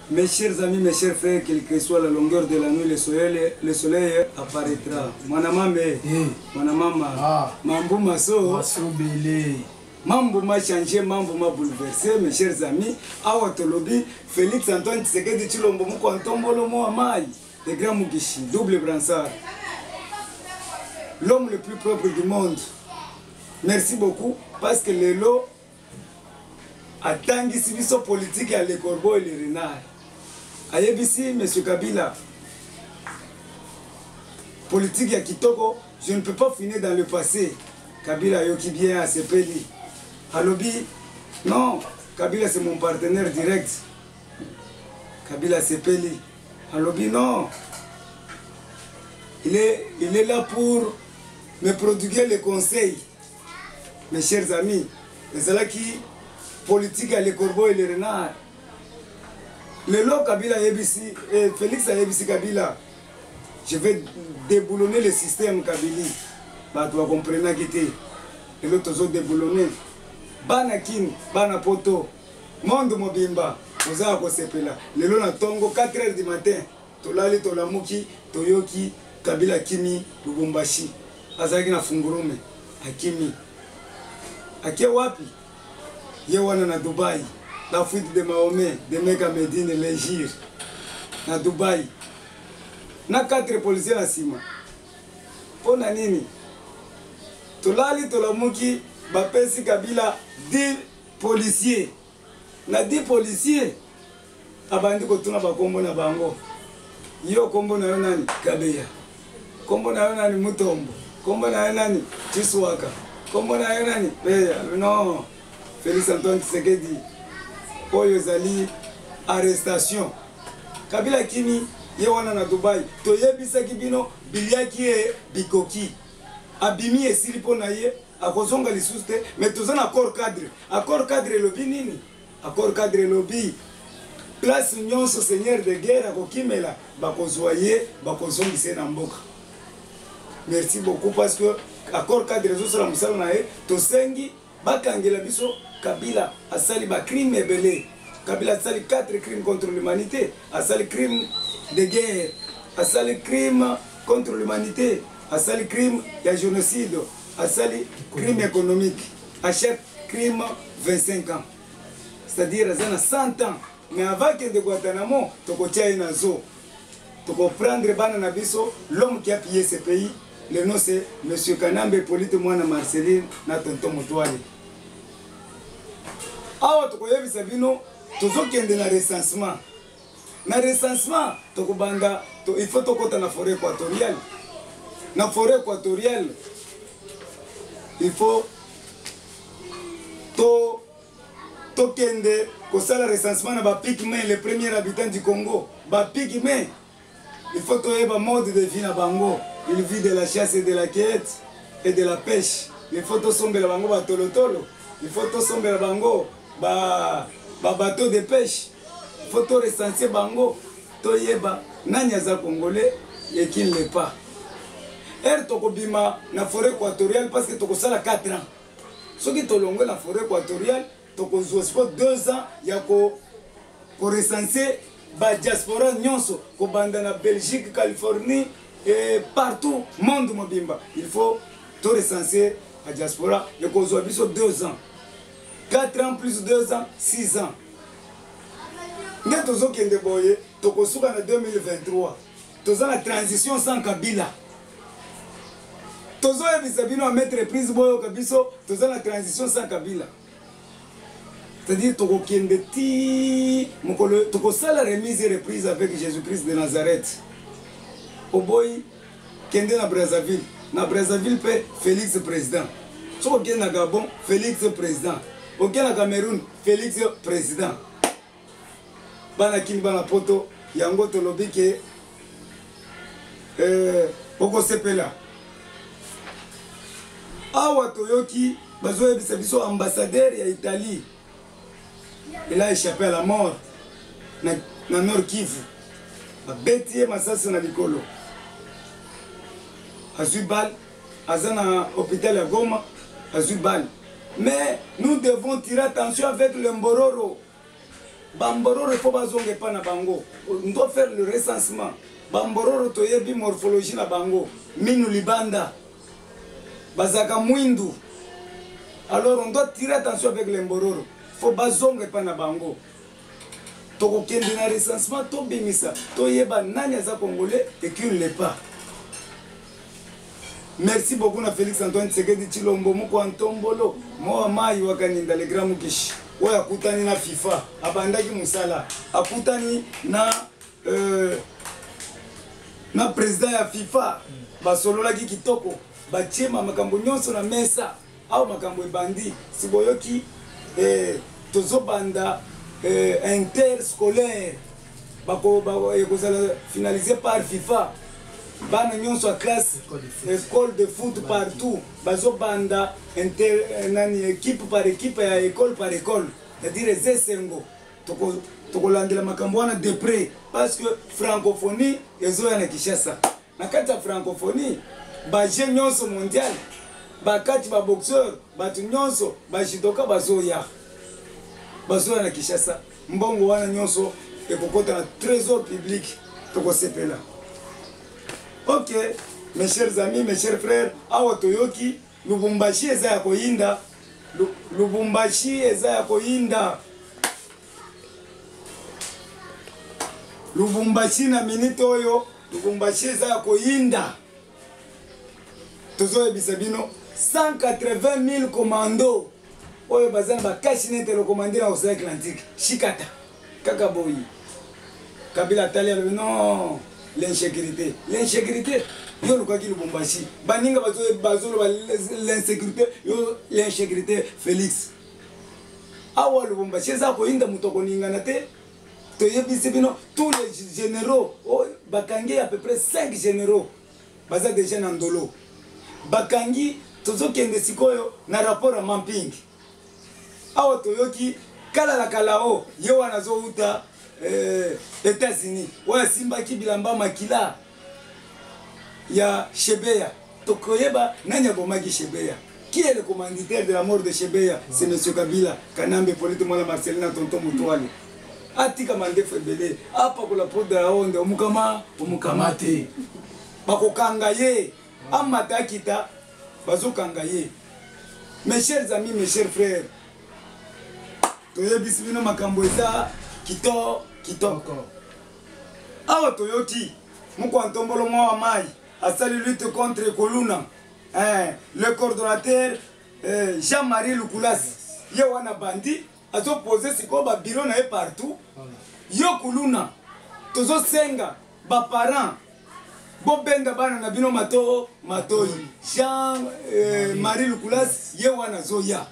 Mes chers amis, mes chers frères, quelle que soit la longueur de la nuit, le soleil, le soleil apparaîtra. Mwana mame, Eh, mwana mama, Ah. mambo maso, masobele mambo ma change, mambo ma bouleverse, mes chers amis. Awa tolobi, Félix Antoine Tshisekedi Tshilombo moko antombolo mo amai, le grand Mugishi, double bransard. L'homme le plus propre du monde. Merci beaucoup parce que lelo atangisi biso politike ya le corbeau et le renard ayebisi monsieur kabila politike ya kitoko je ne peux pas finir dans le passé kabila ayoki bien asepeli alobi non kabila c'est mon partenaire direct kabila asepeli alobi non il est, il est là pour me prodiguer les conseils Mes chers amis, ezalaki politique ya le corbeau et le renard. Lelo Kabila ayebisi, eh, Felix ayebisi Kabila, je vais déboulonner le système Kabili. Bato bakomprenaki te. Lelo tozo déboulonner. Bana Kin, bana Poto, monde mobimba, oza ya kosepela. Lelo na tongo 4 heures du matin, Tolali tolamuki toyoki Kabila akimi Lubumbashi azalaki na fungurume akimi ake wapi ye wana na Dubai la fuite de Mahomet de Mecca Medine Legir na Dubai na quatre policiers na nsima mpo na nini tolali tolamuki bapesi Kabila 10 policiers na di policier abandi kotuna bakombo na bango yo kombo na yo nani kabeya kombo na yo nani mutombo kombo na yo nani chiswaka kombo na yo nani beya non felix antoine tshisekedi oyo ezali arrestation kabila kimi ye wana na dubai toyebisaki bino biliaki ye bikoki abimi esili mpo na ye akozonga lisusu te mais toza na accord cadre accord cadre elobi nini accord cadre elobi place nyonso seigneur de guerre akokimela bakozwa ye bakozongisa ye na mboka merci beaucoup parce que accord cadre ezosala mosala na ye tosengi bakangela biso kabila asali bacrime ebele kabila asali 4 crime contre l'humanité asali crime de guerre asali crime contre l'humanité asali crime ya génocide asali crime économique à chaque crime 25 ans c'est-à-dire aza na 100 ans mais avant kende guantanamo tokotia ye na zoo tokoprendre bana na biso l'homme qui a pillé ce pays le nom c'est monsieur kanambe polite mwana marceline na tonton motoale awa tokoyebisa bino tozokende na recensement na recensement tokobanda to, il faut tokota na forêt équatoriale na forêt équatoriale il faut to tokende kosala recensement na bapigme le premier habitant du congo bapigme il faut toyeba mode de vie na bango il vit de la chasse et de la quête et de la pêche il faut tosombela bango batolotolo il faut tosombela bango babateau ba de pêche faut to recenser bango toyeba nani aza congolais et qui ne l'est pas heure tokobima na forêt équatoriale parce que tokosala 4 ans soki tolongwe na forêt équatoriale tokozwa siko 2 ans ya korecense badiaspora nyonso kobanda na belgique californie et partout monde mobimba il faut torecense badiaspora ekozwa biso 2 ans 4 ans plus 2 ans 6 ans nde tozokende boye tokosuka na 2023 toza na transition sans kabila tozoyebisa bino ya maitre prise boyoka biso toza na transition sans kabila c'est-à-dire tokokende ti mokolo tokosala remise et reprise avec jésus christ de nazareth oboyi kende na brazzaville na brazzaville mpe félix président soki okende na gabon félix président okende na cameroun Felix president bana kini bana poto yango tolobi ke eh, okosepela awa toyoki bazoyebisa biso ambassadeur ya italie il a échappé à la mort na, na nord kivu babeti ye masasi na likolo azwi bale aza na hopital ya goma azwi bale mais nous devons tirer attention avec le mbororo bambororo fo bazonga epa na bango ndo faire le recensement bambororo toyebi morphologie na bango minu libanda bazalaka mwindu alors on doit tirer attention avec le mbororo fo bazonga epa na bango tokokende na recensement tobimisa toyeba nani aza congolais et qui ne l'est pas merci beaucoup na félix antoine tshisekedi tshilombo moko antombolo mowa mayi wakaninda le grand mukishi oyo akutani na fifa abandaki mosala akutani na euh, na président ya fifa basololaki kitoko batiema makambo nyonso na mesa Awa makambo ebandi siboyoki eh, tozobanda eh, interscolaire ekozala eh, finalise par fifa bana nyonso ya classe école de foot partout bazobanda eh, nani équipe par équipe ya école par école c'est-à-dire eza esengo tokolandela makambo wana de près parce que francophonie ezoya na kinshasa Na kati ya Francophonie, ba jeux nionso mondial, ba catch, ba boxeur, batu nionso, ba judoka bazoya. Bazoya na Kinshasa. Mbongo wana nionso ekokota na trésor public. Tokosepela. Ok, mes chers amis, mes chers frères, awa toyoki Lubumbashi eza ya koyinda. Lubumbashi eza ya koyinda. lubumbashi na minite oyo lubumbashi eza ya koyinda tozoyebisa bino 180 000 commando oyo baza na bakashi nete lokomande na ocean atlantique shikata kaka boyi kabila atali alobi non l'insécurité l'insécurité yo olukaki lubumbashi baninga bazoloba l'insécurité yo l'insécurité félix awa lubumbashi eza koyinda moto akoningana te toyebisi bino tous les généraux oh, bakangi à peu près 5 généraux baza déjà na ndolo bakangi tozokende sikoyo na rapport ya mamping awa toyoki kala na kala o oh, ye wana azowuta eh, états-unis oyo asimbaki bilamba makila ya Shebeya tokoyeba nani abomaki Shebeya qui est le commanditaire de la mort de Shebeya c'est monsieur Kabila Kanambe Polite Mwala Marcelina Tonton Mutuali atika mandefu ebele apakola poudre ya onde omukama omukama te bakokanga ye amata akita bazokanga ye mes chers amis mes chers frères toyebisi bino makambo eza kitoko kitoko Awa toyoki mokwa ntombolo mwa wa mayi asali lutte contre koluna eh, le coordonnateur eh, Jean-Marie Lukulasi ye wana bandi azopose sikoyo babiro na ye partout yo kuluna tozosenga baparent bobenda bana na bino mato matoi jean eh, marie lukulas ye wana azoya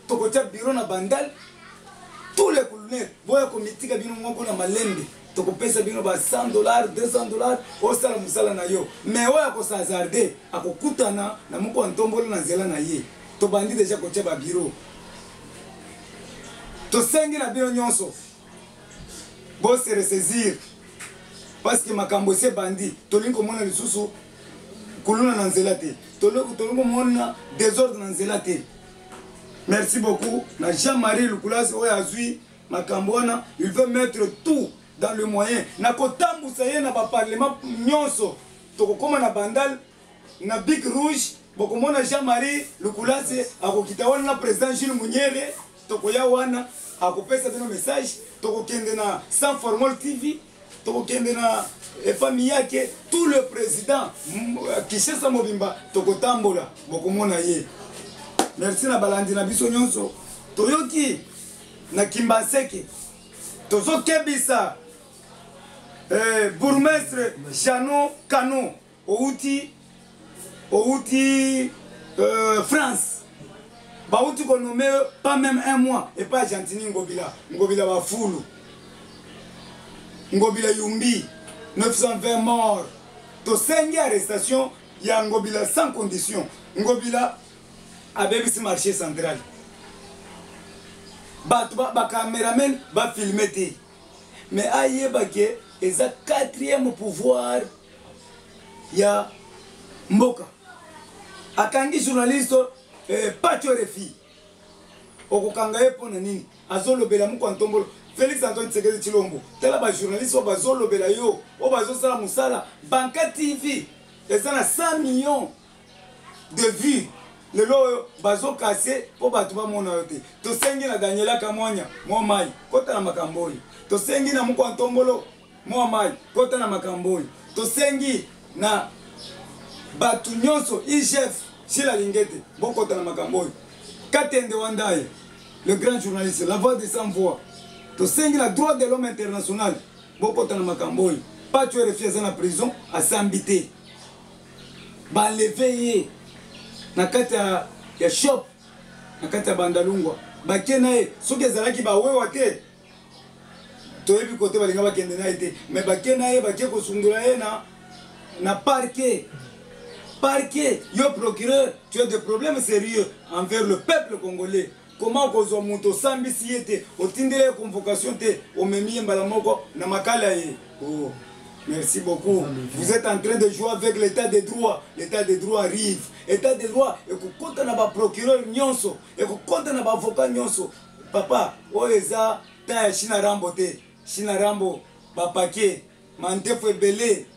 tokotia biro na bandal tous les kulune boya komitika bino moko na malembe tokopesa bino ba 100 dollars 200 dollars osala mosala na yo mais oyo akosazarde akokutana na moko ya ntombolo na nzela na ye tobandi deja kotia babiro tosengi na bino nyonso Bo se ressaisir. Parce que makambo se bandi. Tolingi komona lisusu kuluna na nzela te. Tolingi komona désordre na nzela te. Merci beaucoup na Jean-Marie Lukulasi oyo azui makambo wana, il veut mettre tout dans le moyen na kotambusa ye na ba parlement nyonso. Tokokoma na bandal na bic rouge bokomona Jean-Marie Lukulasi akokita wana na president Jules Munyere tokoya wana akopesa bino message tokokende na sans formol tv tokokende na efami yake tout le président euh, kishesa mobimba tokotambola bokomona ye merci na balandi na biso nyonso toyoki na kimbanseke tozokebisa eh, bourgmestre jano cano owuti owuti euh, france bawuti konome pas même un mois epa argentini ngobila ngobila bafulu ngobila yumbi 920 mort tosengi arrestation ya ngobila sans condition ngobila abebisi marché central bato bacameraman bafilme te Mais ayeba ke eza quatrième pouvoir ya mboka. Akangi journaliste eh, Pacho Refi. Okokanga ye pona nini? Azolobela mko antombolo. Felix Antoine Tshisekedi Tshilombo. Tala ba journaliste oyo bazolobela yo, oyo bazosala musala. Banka TV eza na 100 millions de vue lelo oyo bazo kase mpo bato bamona yo te tosengi na daniela kamwanya mwa mai kota na makambo oyo tosengi na mokwa ntombolo mwa mai kota na makambo oyo tosengi na bato nyonso igf sila lingete bokota na makambo oyo katende wandaye le grand journaliste la voix de sans voix tosengi na droit de l'homme international bokota na makambo oyo paco erefi aza na prison asambi te baleve ye na kati ya shop na kati ya bandalungwa bake na ye soki ezalaki bawewa te toyebi kote balinga bakende na ye te me bake na ye bake kosundola ye na na parquet parquet yo procureur tu as des problèmes sérieux envers le peuple congolais Comment okozwa moto osambisi ye te, otindeli ye convocation te, omemi ye mbala moko na makala ye? Oh. Merci beaucoup. Vous êtes en train de jouer avec l'état de droit. L'état de droit arrive. État de droit ekokota na ba procureur nyonso, ekokota na ba avocat nyonso. Papa, oyo eza temps ya China Rambo te. China Rambo ba paquet, mandefu ebele.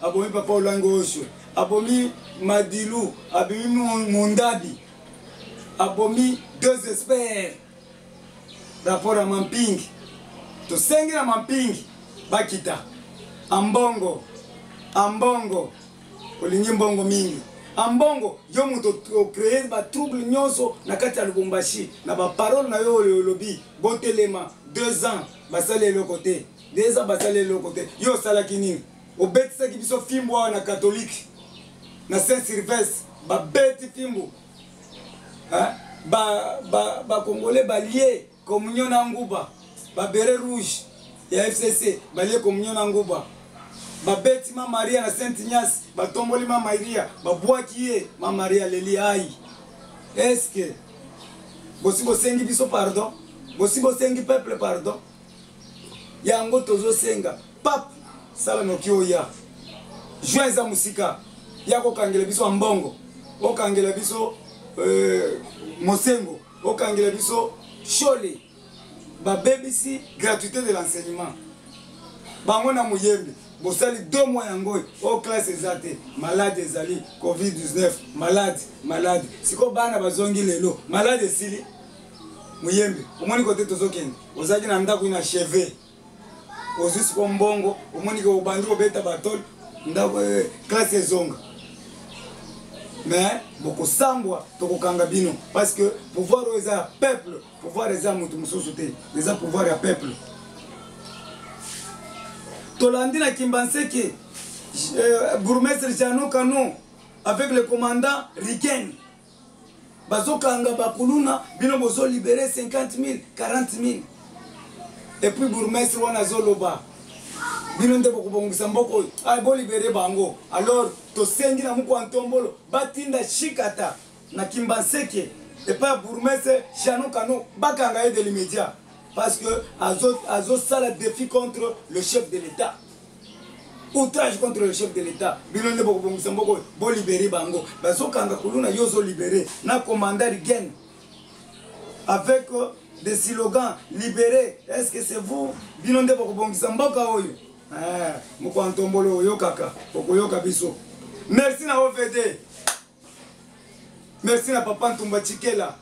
abomi papa olango oso abomi madilu abomi mondabi abomi deux experts rapport ya mampingi tosengi na mampingi bakita ambongo ambongo olingi mbongo mingi ambongo yo moto ocree batrouble nyonso na kati ya lubumbashi na baparole na yo oyo olobi botelema deux ans basali eloko te deux ans basali eloko te yo osalaki nini obetisaki biso fimbu awa na catholique na saint sylvestre babeti fimbu bacongolais ba, ba balie communion na nguba babere rouge ya fcc balie communion na nguba babeti ma maria na saint ignace batomboli ma maria babwaki ye ma maria leli ai eske bosi bosengi biso pardon bosi bosengi peuple pardon yango tozosenga pape sala noki oya juin eza mosika ya kokangela biso mbongo okangela biso euh, mosengo okangela biso shole babebisi gratuité de l'enseignement bango na moyembi bosali deux mois yango oyo oh, classe eza te malade ezali covid-19 malade malade sikoyo bana bazongi lelo malade esili muyembe omoni kote tozokende ozalaki na ndako ina cheve ozwi siko mbongo omoni ke obandi kobeta batole ndako eh, klase ezonga mais bokosambwa tokokanga bino parce que pouvoir oyo eza ya peuple pouvoir eza moto mosusu te eza pouvoir ya peuple tolandi na kimbanseke euh, bourgmestre jano canon avec le commandant riken bazokanga bakuluna bino bozo libere 50000 40000 epuis bourgmestre wana azoloba bino nde bokobongisa mboka oyo ah, bolibere bango alors tosengi na mokwa ntombolo batinda shikata na kimbanseke epai ya bourgmestre jano kano bakanga ye de l'immédiat parce que azosala azo défi contre le chef de l'état outrage contre le chef de l'état bino nde bokobongisa mboka oyo bolibere bango bazokanga kuluna yo ozolibere na commandar gen avec euh, des slogans libere est ce que c'est vous bino nde bokobongisa mboka oyo eh, mokwantombolo oyokaka okoyoka biso merci na ovd Merci na papa Ntumba Chikela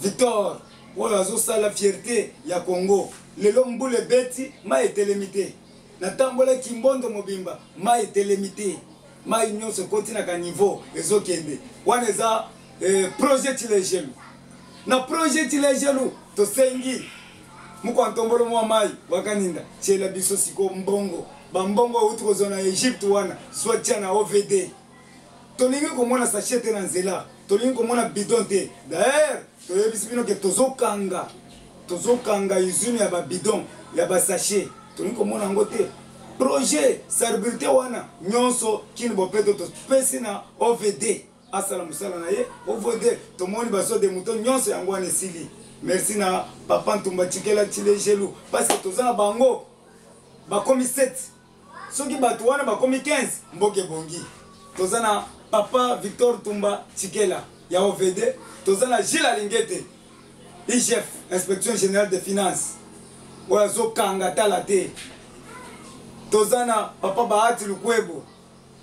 Victor oyo azosala fierte ya Congo. Lelo mbula ebeti, mai etelemi te. Natambola kimbondo mobimba, mai etelemi te. Mai nyonso ekoti na ka niveau ezokende. Wana eza eh, projet Chilejelu. Na projet Chilejelu tosengi mokwa ntombolo mwa mai wakaninda tiela biso siko mbongo bambongo auti kozwa na egypte wana zwa tia na ovd tolingi komona sachet te na nzela tolingi komona bidon te daer toyebisi bino ke tozokanga tozokanga usine ya babidon ya basachet tolingi komona yango te projet sarbrite wana nyonso kini bopeto topesi na ovd asala mosala na ye ovd tomoni baso de moto nyonso yango wana esili merci na papa ntumba tikela chile gelu parce que toza na bango bakomi 7 soki bato wana bakomi 15 mboka ebongi toza na papa victor tumba chikela ya ovd toza na gile alingete igf inspection générale de finance oyo azokanga tala te toza na papa bahati lukwebo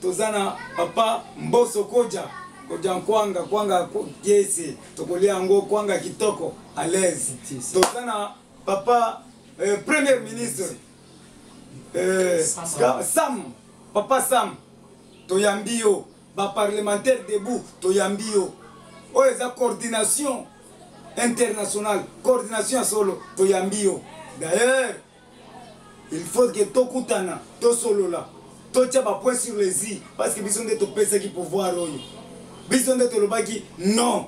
toza na papa mboso koja koja nkwanga kwanga kiese tokolia yango kwanga kitoko alaise toza na papa euh, premier ministre Euh, sam papa sam toyambi yo baparlementaire debout toyambi yo oyo eza coordination internationale coordination ya solo toyambi yo d'ailleurs il faut ke tokutana tosolola totya bapoint sur les i parce que biso nde topesaki pouvoir oyo biso nde tolobaki non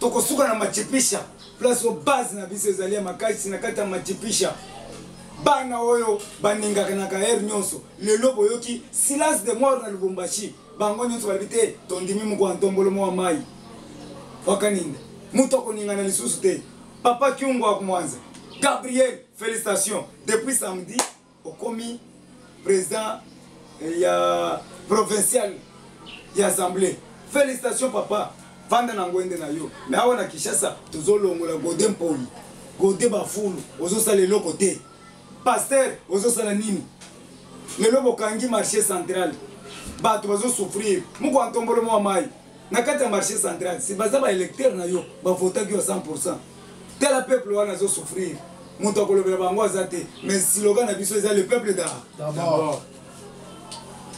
tokosuka na machipisha place oyo base na biso ezali ya makasi na kati ya machipisha bana oyo baningakanaka heure nyonso lelo boyoki silence de mort na lubumbashi bango nyonso balobi te tondimi mokwa ntombolo mwa mai wakaninda moto akoningana lisusu te papa kiungo akumwanza gabriel félicitation depuis samedi Okomi president ya provincial ya assemblée. Felicitations papa. Vanda na ngwende na yo. Mais awa na Kinshasa tozo longola Gode Mpoli. Gode Bafulu ozo sala eloko te. Pasteur ozo sala nini? Lelo bokangi marché central. Bato bazo souffrir. Muko antombolo mwa mai. na kati ya marché central si baza baélecteur na yo bavotaki yo 100 pourcent tala peuple wana azosouffrir moto akolobela bango aza te mais siloga na biso eza le peuple d'abord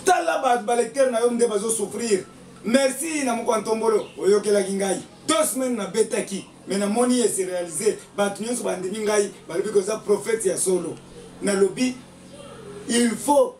tala bato balecteur na yo nde bazosouffrir merci na moko ya ntombolo oyokelaki ngai deux semaine nabetaki me namoni ese réalise bato nyonso bandimi ngai balobi koza prophète ya solo nalobi il faut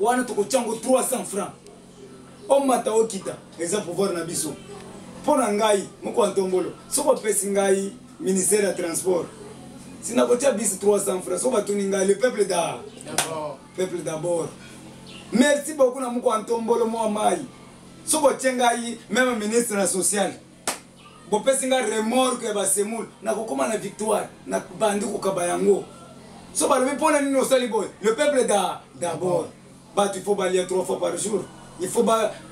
wana tokotia yango 300 francs omata okita eza pouvoir na biso mpo na ngai moko ya ntombolo soki opesi ngai ministère ya transport sina kotia bisi 300 francs soki batuni ngai le peuple da peuple d'abord merci beaucoup na moko ya ntombolo mwa mai soki otie ngai meme ministre na sociale bopesi nga remorque ya basemul nakokoma na victoire na bandi kokaba yango so balobi mpo na nini osali boye le peuple da d'abord bato ifo balia trois fois par jour ifo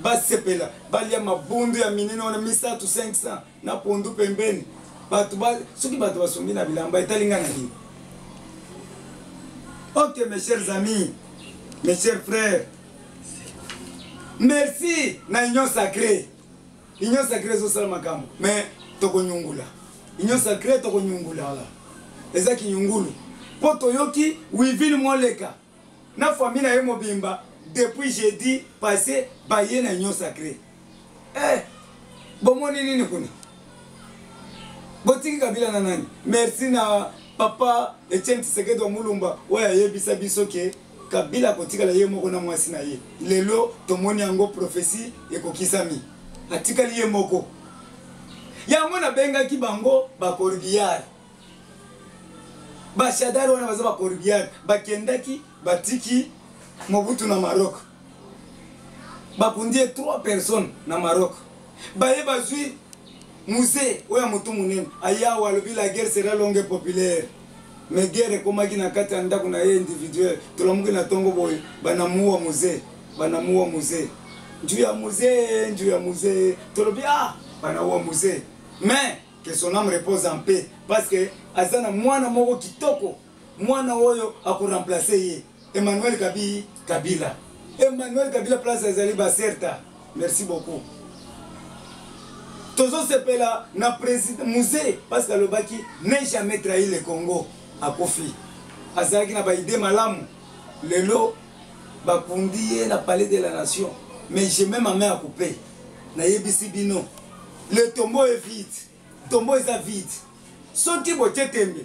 basepela ba balia mabundu ya minene wana misato 500 na pondu pembeni bato ba soki bato basombi na bilamba etali nga na nini ok mes chers amis mes chers frères merci na union sacrée union sacrée ezosala makambo mais tokonyungula union sacrée tokonyungula eza kinyungulu mpo toyoki wivine moleka na famille na ye mobimba depuis jeudi passé baye na union sacrée eh, bomoni nini kuna botiki kabila na nani merci na papa etienne tisekedi wa mulumba oyo ayebisa biso ke Kabila akotikala ye moko na mwasi na ye. Lelo tomoni yango prophetie ekokisami. Atikali ye moko. Yango nabengaki bango ba corbillard. Ba shadari wana baza ba corbillard. Bakendaki batiki Mobutu na Maroc. babundi ye 3 personnes na maroc baye bazwi musee oyo ya motu monene ayawo alobi la guerre sera longue populaire me guerre ekomaki na kati ya ndako na ye individuel tolamuki na ntongo boye banamuwa musee banamuwa musee nju ya musee nju ya musee tolobi ah banamuwa musee mais que son âme repose en paix parce que aza na mwana moko kitoko Mwana oyo ako remplacer ye Emmanuel Kabiyi Kabila. Emmanuel Kabila place ezali ba certa. Merci beaucoup. Tozo sepela na president musée parce que alobaki ne jamais trahi le Congo akufi. Azalaki na ba idée malamu. Lelo bakundi ye na palais de la nation mais je mets ma main à couper. Nayebisi bino le tombeau est vide. Tombeau eza vide. Soki botie tembe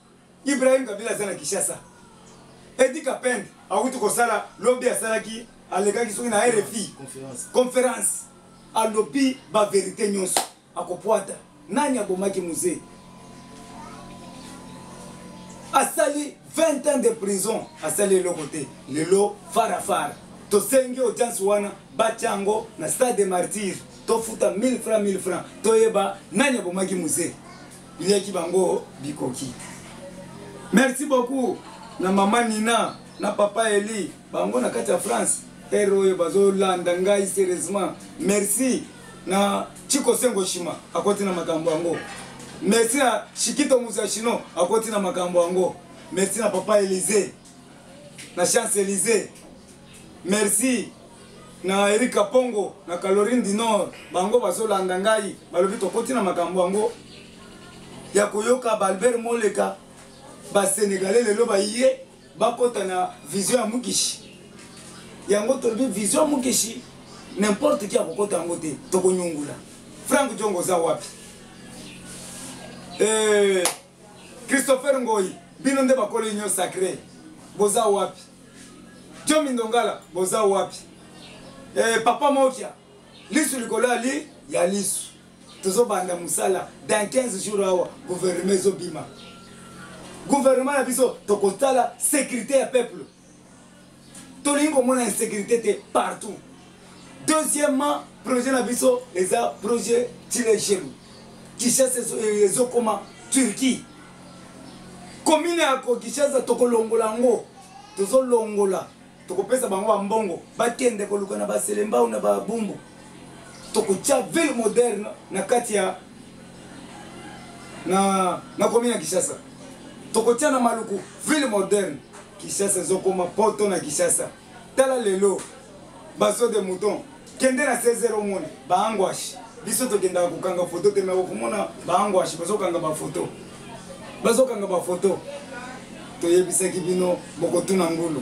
Ibrahim Kabila aza na Kishasa. Edi Kapend awuti kosala lobi asalaki alekaki soki na RFI conference alobi ba verite nyonso akopwata nani abomaki muse asali 20 ans de prison asali eloko te lelo farafara tosengi audience wana batya yango na stade de martyr tofuta 1000 francs 1000 francs toyeba nani abomaki muse Bileki bango bikoki. Merci beaucoup na mama Nina na papa Eli bango na kati ya France. Ero oyo bazolanda ngai serieusement. Merci na Chiko Sengo Shima akoti na makambo yango. Merci na Shikito Musashino akoti na makambo yango. Merci na papa Elise. na chance elise merci na erika pongo na calorine du nord bango bazolanda ngai balobi tokoti na makambo yango ya koyoka baalbert moleka basenegalais lelo baye bakota na vision ya mukishi yango tolobi vision ya mukishi n'importe qui akokota yango te tokonyungula frank jongo oza wapi eh. Christopher Ngoyi bino nde bakolo union sacré boza wapi Joe Mindongala boza wapi eh, Papa Mokia lisu likolo ya li ya lisu tozobanda mosala dans 15 jours awa gouvernement ezobima gouvernement na biso tokotala sécurité ya peuple tolingi komona insécurité te partout deuxièmement projet na biso eza projet tilejelu kishasa ezokoma eh, turquie komine ya kokishasa tokolongola yango tozolongola tokopesa bango bambongo bakende koluka na baselembau na babumbu tokotya ville moderne na kati ya na, na komina Kishasa tokotya na maluku ville moderne Kishasa ezokoma poto na Kishasa tala lelo bazo de mouton kende na 16 omoni baangwashi biso tokendaka kokanga foto te me okomona baangwashi bazokanga bafoto bazokanga bafoto toyebisaki bino bokotuna ngulu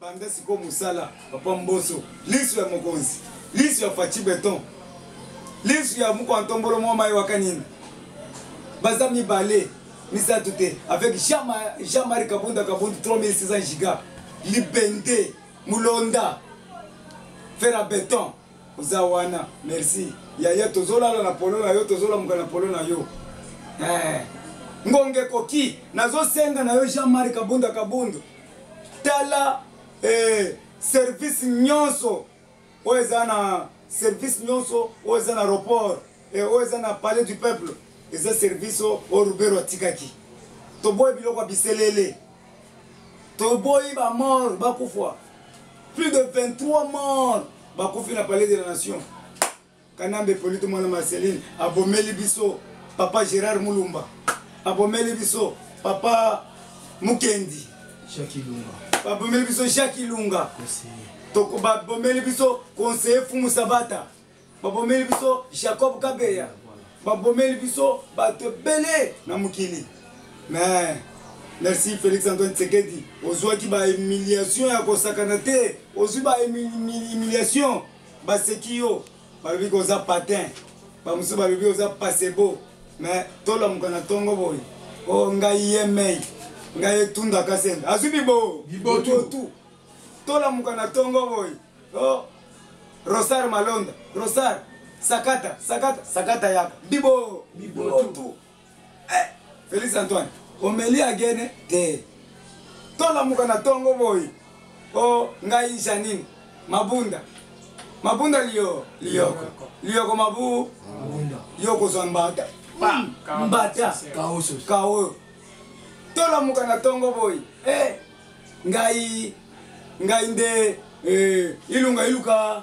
Banda sikoyo musala papa mboso lisu ya mokonzi lisu ya fachi beton lisu ya muko antombolo mwa mayi waka nini baza mibale misato te avec jean marie kabunda kabundu 3600 giga libende mulonda fer a beton oza wana merci yaya tozolala na polo na yo tozolamuka na polo na yo eh. ngonge koki nazosenga na yo jean marie kabunda kabundu tala eh, service nyonso oyo eza na service nyonso oyo eza na report eh, oyo eza na palais du peuple eza service oyo rubero atikaki toboyi biloko ya biselele toboyi bamort bakufwa plus de 23 mort bakufi na palais de la nation Kanambe Polito mwana Marceline abomeli biso papa Gerard Mulumba abomeli biso papa Mukendi Jacques Lunga babomeli biso Jacques Lunga toko babomeli biso conseiller Fumu Sabata babomeli biso Jacob Kabeya babomeli biso bato ebele na mokili mais merci félix antoine tsekedi ozwaki bahumiliation ya kosakana te ozwi bahumiliation baseki yo balobi ko oza patin bamosusu balobi oza pasebo me tolamuka na ntongo boye o oh, ngai yemei ngai etunda kasende azwi bibo bibotu tolamuka na ntongo boye o oh, rosar malonda rosar sakata sakata sakata yaka bibo bibotu eh, Felix Antoine omeli agene te tolamuka na tongo boyi o oh, ngai Janine mabunda mabunda liyo liyoko liyoko mabu yo kozwa mbata hmm, mbata kaoyo tolamuka na tongo boyi eh, ngai ngai nde eh, ilunga iluka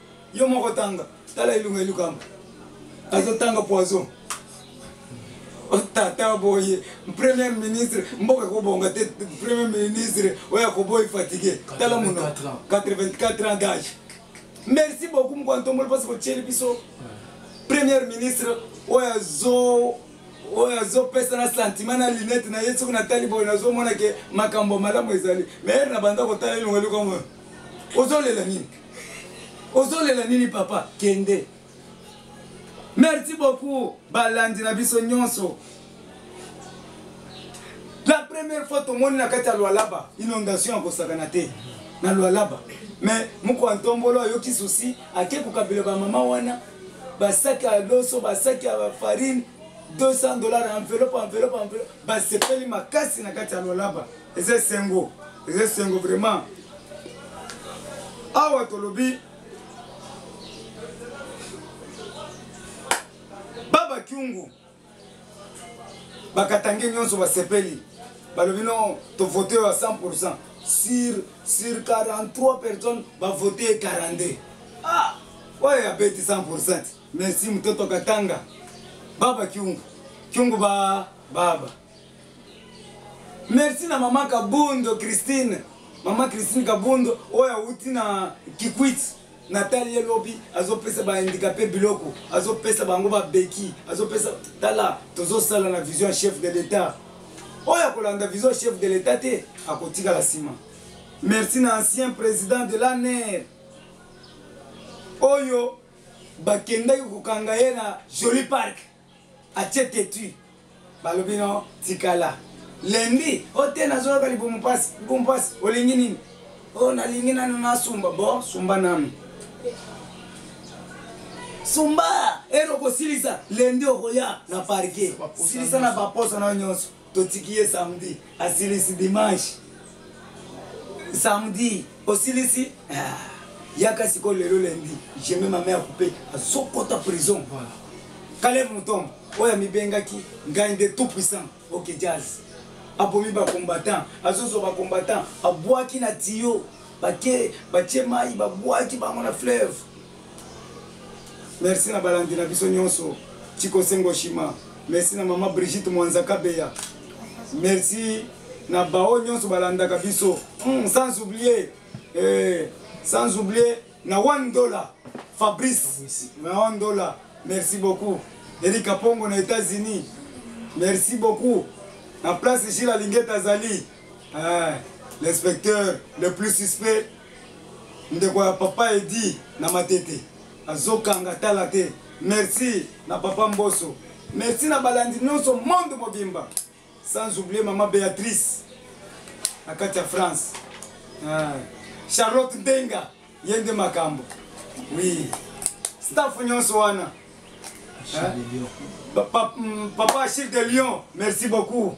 yo moko tanga tala elunga elukamba azotanga poison tata boye premier ministre mboka ekobonga te premier ministre oyo akoboyi fatigue tala mono 84 ans d'age merci beaucoup mokwantomboli mpasi kotyeli biso premier ministre oyo azo oyo azopesa na sentiment na linete na ye soki natali boye nazomona ke makambo malamu ezali maire na banda kotala elongo eloko ozolela nini ozolela nini papa kende merci beaucoup balandi na biso nyonso la première fois tomoni na kati ya lwalaba inondation ya kosakana te na lwalaba mais moko ya ntombolo ayoki susi ake kokabela bamama wana basaki ya loso basaki ya farine 200 dollars enveloppe enveloppe enveloppe basepeli makasi na kati ya lwalaba eza esengo eza esengo vraiment awa tolobi baba kiungu bakatange nyonso basepeli balobi no tovote yo ya 100 pourcent sur sur 43 personnes bavote ye 42 ah oyo abeti 100 pourcent merci mototo katanga baba kiungu kiungu ba baba Merci na maman Kabundo Christine. Maman Christine Kabundo oyo awuti na Kikwit natali ye lobi azopesa ba handicapé biloko azopesa bango babeki azopesa tala tozosala na vision ya chef de l'etat oyo akolanda vision chef de l'etat te akotikala nsima merci na ancien président de l'aner oyo bakendaki kokanga ye na joli parke atie tetue balobi no tikala lundi o te nazoyoka libumu pasi libumu pasi olingi nini o oh, nalingi nanu nasumba bo sumba nanu sumba ero kosilisa lundi okoya na parke silisa na baposa nayo nyonso totiki ye samedi asilisi dimanche samedi osilisi ah, yaka sikoyo lelo lendi jeme mame ya kupe azokota prison kale motombo oyo amibengaki ngai nde tout puissant ok jazz abomi bacombattant azozwa bacombattant abwaki na tiyo bake batie mai babwaki bango na fleuve merci na balandi na biso nyonso chiko sengo shima merci na mama brigitte mwanza kabeya merci na baoyo nyonso balandaka biso mm, sans oublier eh, sans oublier na one dollar fabrice na one dollar merci beaucoup erika pongo na états-unis merci beaucoup na place jila lingeta azali Ah, l'inspecteur le plus suspect ndeko ya papa edi na matete azokanga tala te merci na papa mboso merci na balandi nyonso monde mobimba sans oublier mama béatrice na kati ya france ah. charlotte ndenga ye nde makambo oui staff nyonso wana ah. papa, mm, papa achille de lion merci beaucoup